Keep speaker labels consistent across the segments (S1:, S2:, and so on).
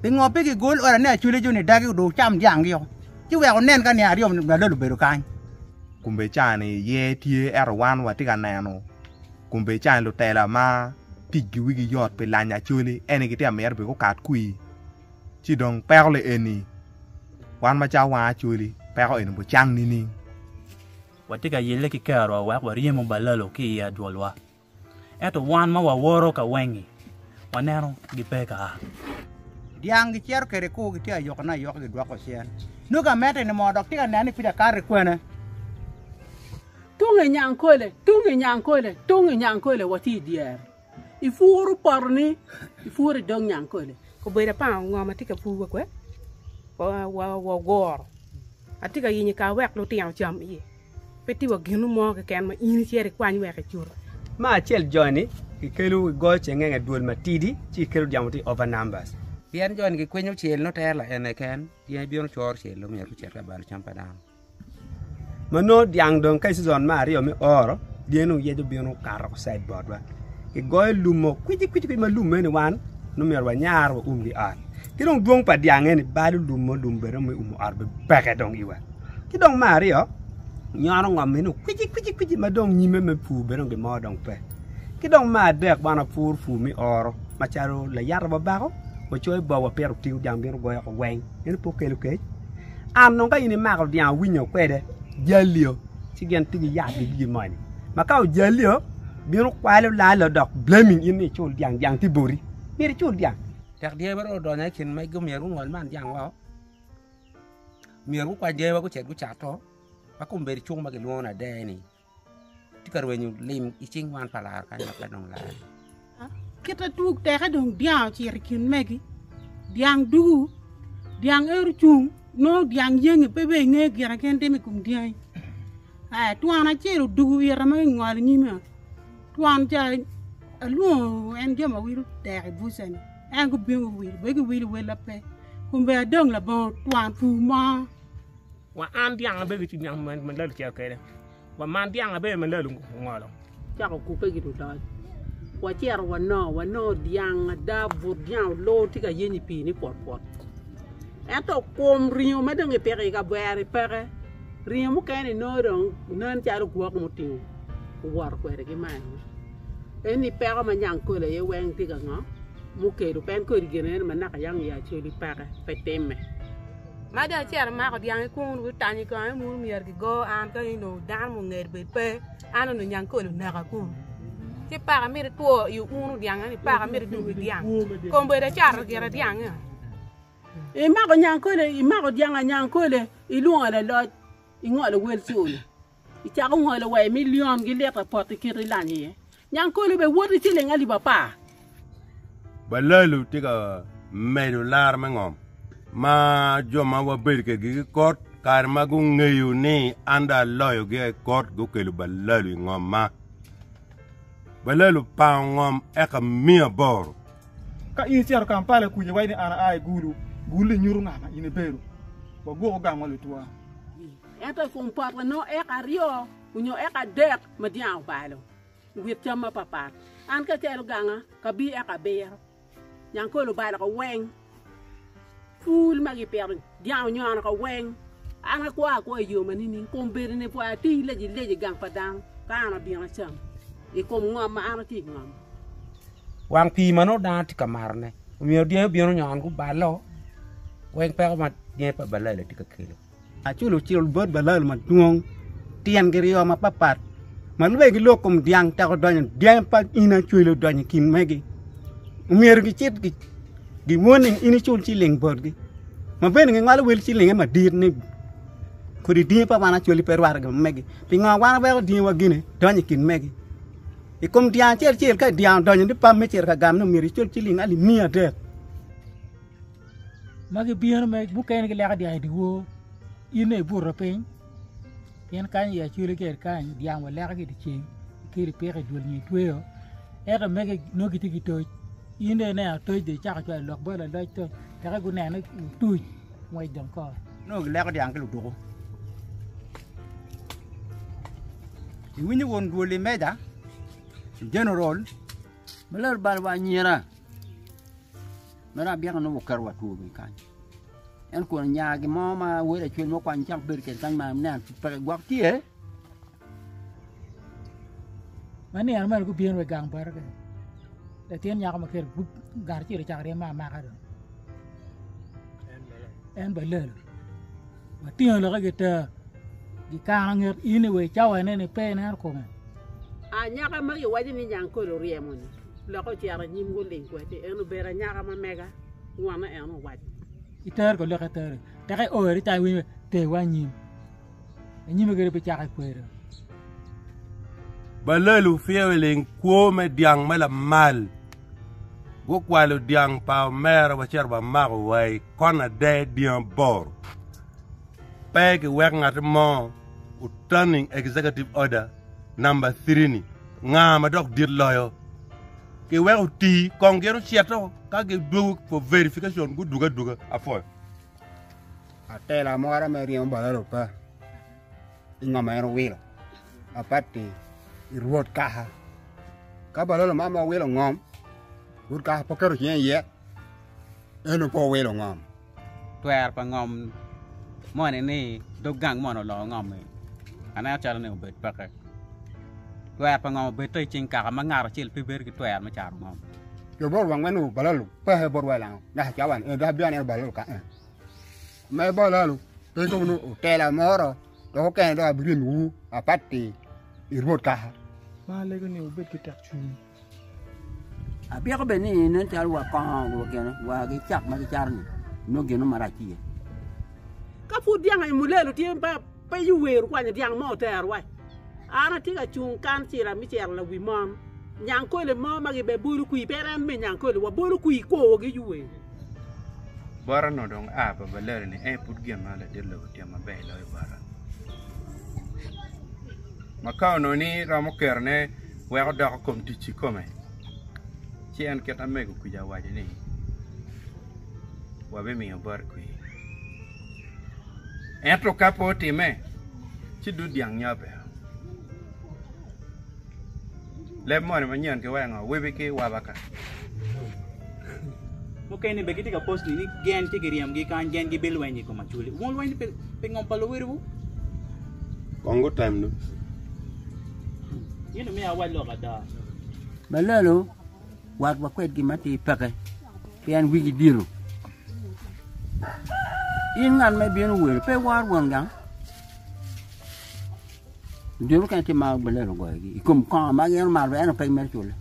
S1: Pingo pe gigol ora ni aculeco ni dagi odong cam dyanggi o, ci wek onen ka niang aryo malal obedo kany? Kombedicani
S2: iye tye ento wan watye ka neno kombedicani lutela ma ticgi wigi yot pi lanyo acoli en aye gitye ka mito bene gukat kwir ci dong peko le eni wan macalo wan acoli peko eni obicang nining? Watye
S3: ka yelle ki kerowa wek waryemo balalo ki i adwolwa. Ento wan ma wawoto ka wengi, waneno gipe ka a.
S1: Dyang gicito kwede i kur, gitye ayokone ayoka, gidwoko cen. Nongo amedde ni moo, dok tye ka neno ni pud akato i kwene. Tung
S4: i Nyankole, tung i Nyankole, tung i Nyankole, watye i dyere. Ipuro potoni, ipuro i dog Nyankole. Obedo apango ngo
S5: ma tye ka pur wakwe, waguro. Atye ka yenyo i kare wek lutino ocam iye. Pe tye wa gin mo keken ma in icito ikwany wek icut. Ma acel
S6: joni gikelo i goyo cengenge dwol matidi ci gikelo dyamo tye over numbers. Pien joni gikwinyo
S7: cel nongo tere la ene ken pien ibino coro cel nongo myero icit ka balo cam pa dano. Ma
S6: nongo dyang dong ka i season me aryo me oro dyangi nongo yec obino kato ki side botwa. Kigoyo lum mo kwici kwici kwici ma lum meno wan nongo myero wanyar wa umgi ot. Ki dong dwong pa dyang eni balo lum mo lum bene me umo ot bene peke dong iwa. Ki dong me aryo, nyono ngomme ni kwici kwici kwici ma dong nyimme me pur bene dong gimo dong pe. Ki dong me adek wan wapur pur me oro macalo layat obabako wacoyo i bong wapito otigo dyang bino goyo oko weng meno pe okelo kec. An dong ka in imako dyang owinyo kwede jalio ci gin tye ki yat ki gigi moni ma ka ojalio bino kwalo lalo dok blaming in ni icul dyang dyang tye boti myero icul dyang. Tek dyangi bene dong
S7: odonyo i kin magi omyero gungol man dyang woko. Myero gukwany gangi wek gucit gucato ma kombeddi cuk ma kilwongo ni Adeni tye ka rwenyo lim i cing wan pa laro kany ma pe dong laro. Kit
S4: atwog teke dong dyang ocito i kin megi, dyang dugu, dyang ero ocung, nongo dyang yengi pe bene inge gire gin timo i kom dyangi. Aya twon acel odugu ita ma ingolo nyima, twon ca alwongo en jo ma wilo dek i bucani. En gubino guwilo bene giwilo wel ma pe kun bene adong labongo twon pur mo. Wa an
S8: dyang abedo ki cwiny malalu cito kwede, wa man dyang abedo malalu ongolo. Cako kupe ki
S4: ludoc. Wacito wanongo, wanongo dyang ada, but dyang olor tye ka yeny i pii ni pwotpwot. Ento kum ringo ma dong kipiko i kavere-ri peke, ringo mukene-ni nongo dong nen calo gwok mutingo owoto kwede ki malo. En ni peko ma Nyangkole aye weng tye ka ngo mukelo pe en kodi gin nen ma naka yang ya coli peke pe time. Ma dong
S5: icito imako dyang ikun wi tanyi kong en munu myero ki go an ka in dong dano ma ongeri bed pe an onongo Nyangkole oneka kunu ci paka mito two i unu dyang eni paka mito dugo i dyang kombedo acato gire dyang eni.
S4: Imako Nyangkole imako dyang a Nyangkole ilwongo laloc ingolo wel cula. Icako ngolo wa i milion gi lit apot i kite ilanyo iye. Nyang kolo be woti ciling alip apar.
S2: Balalu tye ka medo laro me ngom ma jo ma wabedo kegi ki kot kare ma gungeyo ni an do aloyo gi ai kot gukelo balalu i ngom ma balalu pango ngom eka miyo aboro. Ka in
S9: icito Kampala kuca iwaco ni an aa i Gulu, Gulu-li nyuto nga ma in ibedo. Waguko gang ma lutwa. Ento i
S4: kom pote nongo eka aryo onyo eka adek ma dyang obalo i wit cam mapapat. An keken oganga kabi eka abiro. Nyangkole obalo ka weng. Pul ma gipito dyang onyono ka weng. An akwo akwa i yo ma nining? Kom bedo ni pwaya atir leji leji i gang pa dano ka an abino acam i kom ngom ma an atye ka ngomo. Wang
S7: pii ma nongo dano tye ka matone omiyo dyangi obino onyono gubalo weng peko ma dyangi pa balali tye ka kelo. Aculo cil
S1: bot balal madwong tyen giryo mapapat ma lubbe gilok kom dyang teko donyo dyangi pa in acwelo donyo i kin megi omyero gicit giwon ni in icul ciling botgi ma bene gingolo wel cilinge madit ni kodi dyangi pa wan acwali pe rwatte gin ma megi pingo wan waweko dyangiwa gine donyo i kin megi i kom dyang acel acel ka dyang odonyo ni pam me cito ka gamone omyero icul ciling alip miya adek.
S10: ma gibino ma mukene gileko dyang i dyewor in aye ibuto piny pien kany i acwali ker kany dyang waleko ki i dyeceng kadi ipiko i dul nyo itweyo ento mege nongo gitye ki toc in dong ineno atoc dong icako cwalo lok bot laloc dong wek gunene lutuc ngwec dong kor nongo gileko dyang ki
S1: luduku iwinyo won dwol imeja igeneral ma laro balwa anyira
S11: Mere abyeka nongo oketo wa two bene kany. En kun nya gin mo ma wele cwiny mo kwany cak bedo kede kany ma nen peke gwok tye.
S10: Ma niang mene gubino wa i gang bati kene. Latin nyako ma kelo gup gar acel ocako ryeme amaka do. En ba lelo. Watingo loke gita. Gikano nget ini wa i cawa nene pe ineno kome. Anyaka
S4: ma giwaco ni Nyankole oryemo-ni. Lok ocito anyim guling kwede, en obedo
S10: anyaka ma mega, ngwonne en owaco. Iter ka lok itere, tek iore ca iwinyo ni terwa anyim. Anyime kede bicako ikwedo.
S2: Balelu pye wiling kwo me dyang me lamal gukwalo dyang pa omera wacito wamako wa i kon ade dyang aboro. Pe giwek ngat mo otaning executive order namba thiri-ni nga ma dok dit loyo. Kiweko oti kong gin ocito ka gidwogo for verification gudwogo adwoga apwoyo.
S1: Atela mo ara me ryemo bal arupa i nga ma en owilo apatti i rwot kaka ka balolo man ma owilo ngom rwot kaka pe oketo cinge iye en ope owilo ngom Twer pa
S7: ngom moni ni dog gang mono olongo ngom-mi? Aneno calo ni obed peke. Twer pa ngom obedde i cing kaka ma ngat acel pe bedo ki twer me caro ngom. Jo bot wang me
S1: nongo balalu peke bot wa i langa naka i cawani eni dok abino aneno balalu kaka en. Me balalu pe dong nongo otela moro dok okene dong abiryemiwu apatti i Rwot kaka. Ma alego ni
S9: wubed ki tekcwiny.
S11: Abyeko bene ni nen calo wa kongo wa gene wa gi cat ma gicato ni nongo gin marac tye iye. Ka
S4: pud dyang aye mulelo tye ma pe iwer kwanyo dyang mo otero wa. An atye ka cung kan cira me cero lawi mon. Nyankole mo ma gi be bolo kwi pe en me nyankole wa bolo kwi i kor gi iwer.
S12: Bot onongo dong a pa balelo ni en pud gin ma ladit lobo tye ma ber loyo bota. ma ka ononi romo kero ne wek odoko kom tic ki kome ci en kit amego kuca owaco ni wa bimiyo bot kwi ento ka pe otime ci dud dyang nyo abero. Leb moni manyen ki wengo wibi ki waba ka.
S3: Mukene bene gitye ka post ni gen ci giryemgi kany, gen gibilweny i kom aculi. Wun lweny pi, pi ngom pa luwiliwu?
S2: Kong gutem du. Yin
S3: omiyo awac lok ada. Balalo
S11: wat wa kwedgi ma ti peke, pien wigi diro. In ngat ma ibino welo, pe iwor won gang. Diro mukene tye ma balelo goyogi i kom kongo ma gin omaro ento pe gimito cule.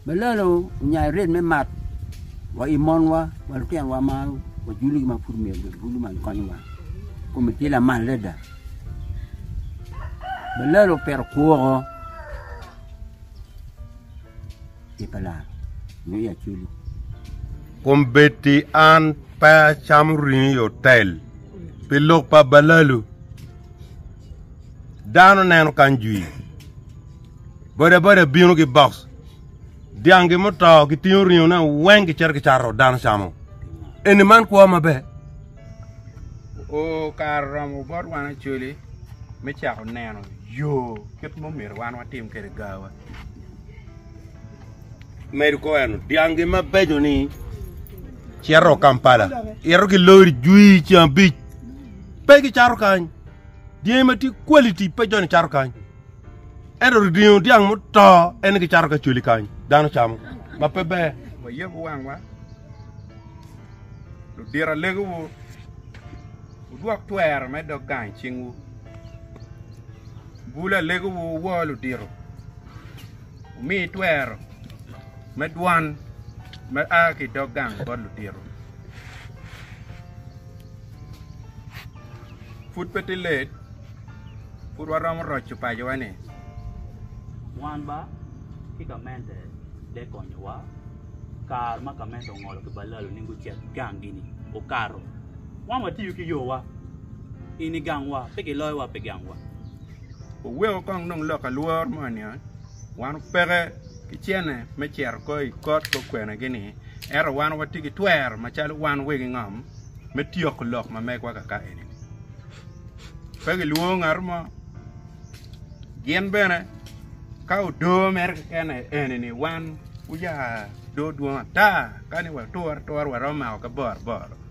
S11: Balelo onyayo red me mat wa i monwa wa lutinowa ma wajulogi ma pud myero gibulu ma gikonyowa kome tye lamal adada. Balelo opito kwoko i pa Lar nyo i acwili.
S2: Kombeddi an pe acamo ringo i otel pi lok pa balalu. Dano neno kany jwi. Bodaboda bino ki box. Dyangi muto gitingo ringone weng gicito gicato dano camo. Eni man kwo maber.
S12: O kare oromo bot wan Acholi me cako neno yo kit ma omyero wan watim kwede gawa.
S2: medo ko eno dyangi mabeco ni cito kampala ito ki lori jwi ceng abic pe ki cato kany dyangi ma tye quality pe joni cato kany ento ringo dyang muto en ki cato ka coli kany dano camo ma pe ber wayeb wangwa
S12: ludira legowu udwok twero me dog gang cingwu Bul alegowu wor ludito, wumi twero me dwan ma a ki i dog gang bot ludito. Pud pe tye let, pud waromo roco pacowa-ni.
S3: Wan ba ki gamente te konyowa. Kare ma gamente ongolo ki balalo ni gucit gangi-ni, okato. Wan watiyo ki yowa, i ni gangwa, pe giloyowa pi gangwa. Wuweko
S12: kong nong lok alwor mo niya, Wan wupeke ki cene me cito ko i kot gukwenegi ni, ento wan watye ki twero macalo wan wegi ngom me tyeko lok ma megwa kaka eni ni, Pe gilwongo ngatu mo, gin bene ka odo mere keken aye eni ni wan wuya do dwong ata kani watur atura waromo mako ki boro boro.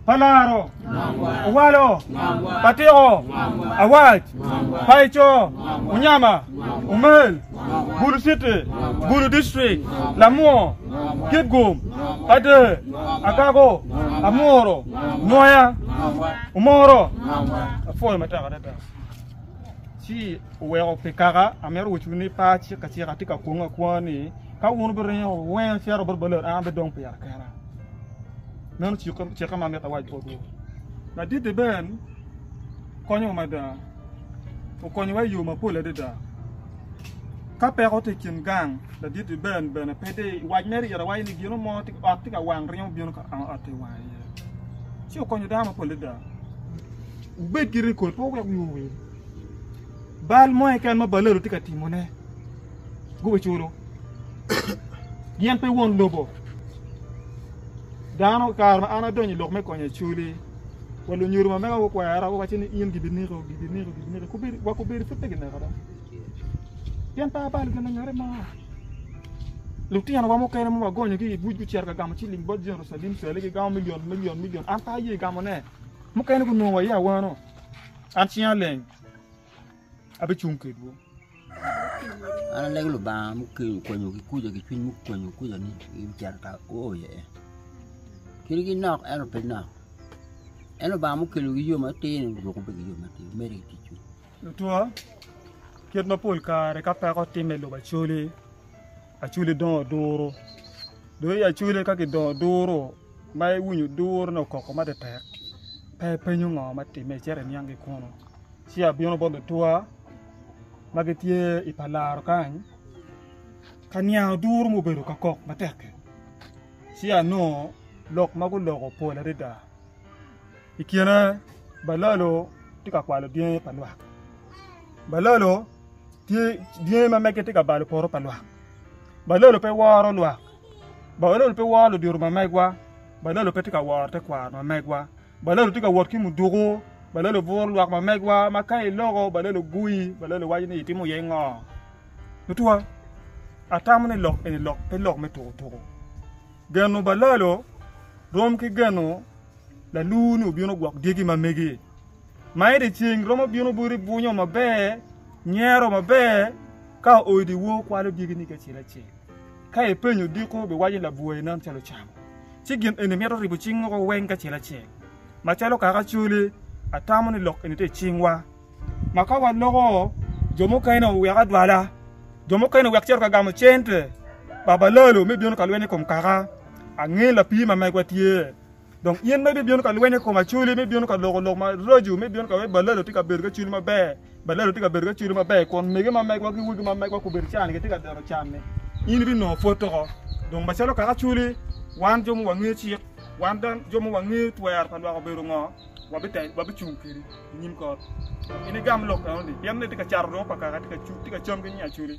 S12: pa laro,
S9: owalo, atiko, awac, paico, unyama, umel, bulu citi, bulu dictrik, lamwo, kitgum, ader, agago, amuru, nwoya, omoro, apwoyo matek adada. Ci oweko pi kaka amito wecwu ni pe acik acika atye ka kwong akwonga ni ka wun wubiringo weng acito bot balot an abidong pira kena. Meno cika ma amito awac botwu. Ladit-ti Ben konyowa mada. Okonyowa i yo mapol adada. Ka peko tye i kin gang, ladit-ti Ben bene pe di. Wac mere ite waco ni gino mo ot tye ka wang ryemo bino ka ang ot-ti wang iye. Ci okonyo dano mapol adada. Wubed ki rekod pe wek wiwu owil. Bal mo keken ma balelo tye ka timone, gubiculo. Gin pe won lobo. Dano, kare ma an adonyo i lok me konyo Acoli, wa lunyodo ma mega gukwera guwace ni in gibineko, gibineko, gibineko, kubedi, wa kubedi pud pe gineko da. Pien pe abalo gin lanyote mo. Lutinowa mukene ma wagonyo ki i buc gucito ka gamo ciling bot Jerucalem cwale gigamo milion, milion, milion, an pe aye gamone. Mukene gunongo waye awano, an cinga leng. abicung kedwu.
S11: An alego Lubanga mukwenyo kikuca ki cwiny mukwenyo kuca ni ibiceto ka uoyo iye. Kit gi nok ento pe nok. En Lubanga mukelo gi yo matir ni oruko pe gi yo matir mere ki ticwu. Lutwa,
S9: kit mapol kare ka peko timme lobo acoli, acoli dongo duru. Dong i acoli ka kidongo duru ma iwinyo duru ni okoko matetek, pe ipenyo ngo ma timme icito iniang ki kunu. ci abino bot luturwa ma gitye i pa laro kany ka niang duru ma obedo ka kok matek-ki ci anongo lok ma guloko pol adada i kine balalo tye ka kwalo dyangi pa lwak balalo tye dyangi ma mege tye ka balo poto pa lwak balalo pe woro lwak balalo pe woro ludito ma megwa balalo pe tye ka woro tekwaro ma megwa Balelo tye ka wot ki muduku. Balelo buro lwak ma megwa ma ka iloko Balelo guyi. Balelo waco ni itimo iye ngo. Mutwa, atamo ni lok eni lok pe lok me tuku tuku. Geno Balelo rom ki geno lalur ni obino gwok dyegi ma megi. Ma eni ceng romo bino boti bunyo maber, nyero maber ka odiwo kwalo dyegi ni ki acel acel. Ka ipenyo diko, biwaco labwor inen calo cam, ci gin eni mito ribo cing woko weng kacel acel. Macalo kaka Acholi, atamo ni lok eni tye i cingwa. Ma ka waloko, jo mukene owek adwala, jo mukene owek cito ka gamo cente, babalalo me bino ka lweny i kom kaka angin lapii ma megwa tye. Dong in ma ibibino ka lweny i kom acoli, me bino ka loko lok maraco, me bino ka wek baladi otye ka bedo ki acoli maber, baladi otye ka bedo ki acoli maber, kun mege ma megwa ki wegi ma megwa gubedo can, gitye ka dero canne, in ibinongo pwod oko. Dong macalo kaka acoli, wan jo ma wangeyo cik, wan dano jo ma wangeyo twero pa lwak obedo ngo, wabicung kedi i nyim kot. Dong in igam lok enoni, pien en aye tye ka cato dong pa kaka tye ka cam ki nying acoli.